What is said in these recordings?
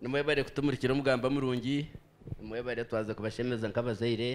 nimwebare kutumurikira omugamba murungi nimwebare twaza kubashemeza nk'abazaire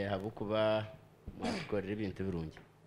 ahabw'okuba mwatukorera ebintu birungi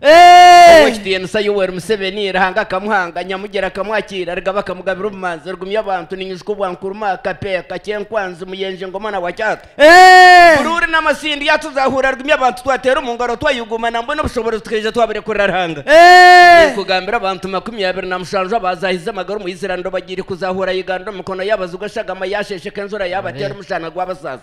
Ow'ekitiinisa Yoweri Museveni, Ruhanga akamuhanga, Nyamugyera akamwakiira, Rugaba akamugabira obumanzi, Rugumya abantu, Ninyujuka obwa Nkurumah, Kapeeh, Kakyenkwanzi, Muyenje, Ngoma na Wakyata, Buruuri na Masindi, Yatuzahuura, Rugumya abantu, Twateera omu ngaro, twayuguuma, Nambwenu obushoboorozi tukaija twaburekurira Ruhanga. Ninkugambira abantu makumi abiri na mushanju abaazaahize amagara omu Island'obagiire kuzahuura Uganda omu mikono y'Abazigu, Eshagama yaasheesheka, Enjura yaabateera, Omushana gwabasaasa.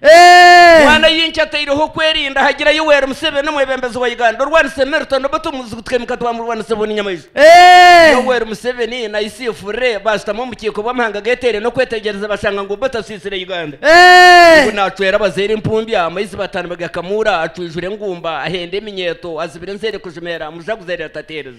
Bwana Yinki ataireho okwerinda hagira Yoweri Museveni omwebembezi wa Uganda orwanisa emirto na obutemu buzigutika emikat bwa murwanisa buni nyamaishwa. Yoweri Museveni na Isif Re bashutami omu bukiiko bw'amahanga ageteire n'okwetegyereza bashanga ngu Obote asisire Uganda ngu nacwera abazaire empumbi amaizi batandba gakamuura acwijura engumba ahenda eminyeeto azibira enzeere kujimeera mujaguzo ari atateereza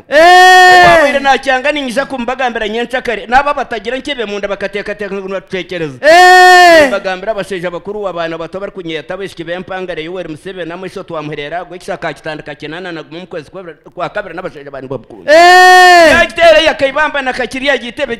Ou abaire naakyanga niinyija kumubagambira nyenkyakare, n'abo abatagira nkyebe munda bakateekateeka ngu nibatucwekyereza. Nimbagambira abashaija bakuru w'abaana bato abarikunyeeta abaishiki b'empangare Yoweri Museveni amaisho twamuhurera ago ekisha akaakitandika kinaana na gumwe omu kwezi kwa Kabiri n'abashaija bandi bamukunda. Yaagiteera eya Kaibamba na Kakiri yaagiteeba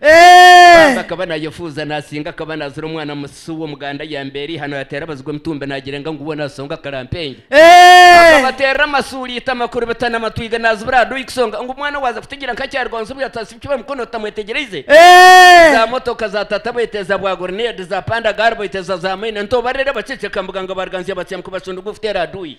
Baaba akaba nayefuuza nasinga akaba nazira omwana musisi w'omuganda ayamba eri ihano yateera abazigu emitumba nagirenga ngu boona asonga akarampenge. Akabateerera amasuuli ita amakuru bita namatwiga nazibira aha dooyi kusonga ngu omwana waaza kutegyera nka akyaruga omu zibuyo atasibikirwe mukono tutamwetegyereize. Za motoka za tata boita eza bwa gurunedi, za panda gaari boita eza za maina, ntobarira abaceceka mbuga nga ba Ruganzya batsya mukubacunduga okuteera aha dooyi.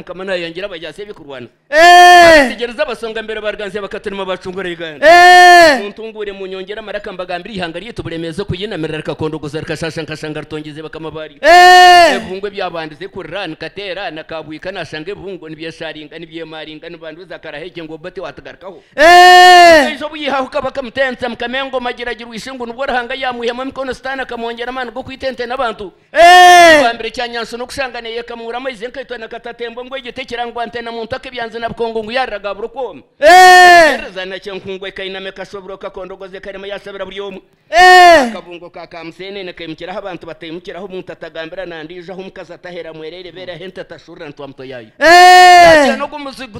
Mukama nayangira abajaasi ebikurwana Abategyereza abasonga mbere bariganzya bakaturima bacungura Uganda Muntunguure munyongere amaraka mbagambire eihanga ryaitu buremeezi okuyinamirira rikakondogoza rikashaasha nka shanga ritongyeze bakama baaryo Ebibungo ebyabandize kurira nikateera na kabwika nashanga ebibungo nibyeshaaringa nibyemaaringa nibanduza karahegye ngu obote watugarukaho Omukaija obuyihaho Kabaka Muteentsa mukama engoma agiragirwa Ishungu nibwo Ruhanga yamwihamu emikono sitaani akamwongyera amaani g'okwita ente n'abantu Ekibambiro kya Nyanso n'okushanga neeyekamuura amaizi enkaito na katatembo ngu egyo tekirangwa nte na muntu ak'ebyanzi na bukungu ngu yaarira gaabura okwomi. Okuheereza na kyenkungu ekainame kashobirwe kakondogoza ekarema yaasabira buri omwe. Akabungo ka kaamuseenene kaimukira ahu abantu bataimukira, ahu omuntu atagambira na ndiijo, ahu omukazi atahera mwereere beere, ahu ente etashurira ntwamuto yaayo. Yaakira n'ogwo muzigu.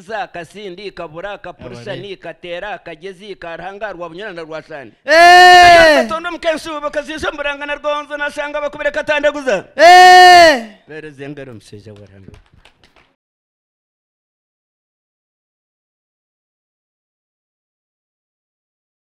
Za kasindi kabura kapurisa Abare. ni kateera kagezi ka Ruhanga rwa bunyoro na rwa sande Kayora Eeh! katonda omu kensu bakaziisa omu buranga na rwonzo nashanga bakubire katandaguza Eeh! Mpereza engaro mushaija wa Ruhanga we.